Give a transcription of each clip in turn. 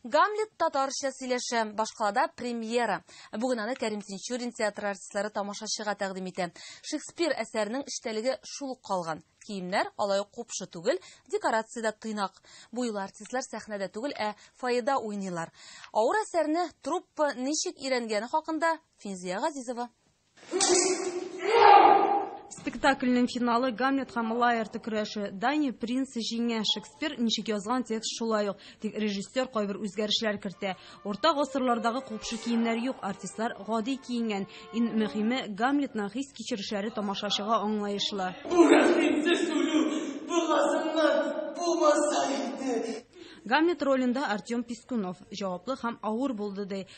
Гамлет татарча сөйләшә, башкалада премьера. Бүген аны Кәрим Тинчурин театры артистлары тамашачыга тәкъдим итә. Шекспир әсәренең эчтәлеге шул ук калган. Киемнәр алай ук купшы түгел, декорация дә тыйнак. Бу юлы артистлар сәхнәдә түгел, ә фойеда уйныйлар. Авыр әсәрне труппа ничек өйрәнгәне хакында Финзия Газизова. Спектакльнең финалы Гамлет һәм Лаерты көрәше. Дани принц җиңә, Шекспир ничек язган текст шулай ук, тик режиссер кайбер үзгәрешләр кертә. Урта гасырлардагы купшы киемнәр юк, артистлар гади киенгән. Ин мөһиме, Гамлетның хис-кичерешләре тамашачыга аңлаешлы. Бу рәхимсез үлү бугазымнан булмаса иде. Гамлет ролендә Артем Пискунов җаваплы һәм авыр булды, ди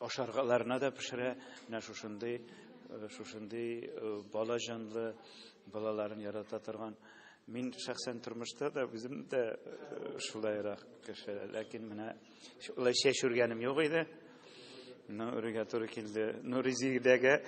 ашаргаларына да пешерә. Менә шушындый э, шушындый э, бала җанлы балаларын ярата торган. Мин шәхсән тормышта да үзем дә э, шулайрак кеше, ләкин менә шулай чәч үргәнем юк иде. Ну, үргә туры килде. Ну, ризигдәгә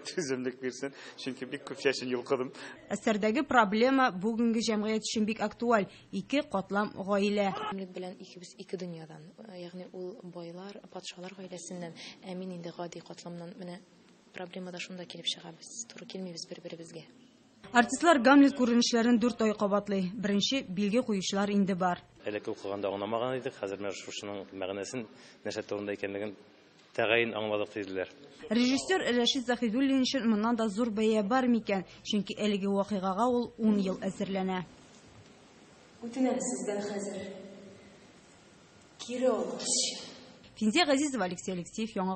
түземлек бирсен, чөнки бик күп чәчен йолкыдым. Әсәрдәге проблема бүгенге җәмгыять өчен бик актуаль. Ике катлам гаилә. Әмлек белән икебез ике дөньядан, ягъни ул байлар, патшалар гаиләсеннән, ә мин инде гади катламнан. Менә проблема да шунда килеп чыга, без туры килмибез бер-беребезгә. Артистлар Гамлет күренешләрен дүрт ай кабатлый. Беренче билге куючылар инде бар. Элек укыганда аңламаган идек, хәзер менә шушының мәгънәсен, нәрсә турында икәнлеген Тәгаен аңладык, диделәр. Режиссер Рәшит Заһидуллин өчен моннан да зур бәя бар микән? Чөнки әлеге вакыйгага ул ун ел әзерләнә. Үтенәм сездән хәзер кире алу эшче. Финзя Газизова, Алексей Алексеев, Яңа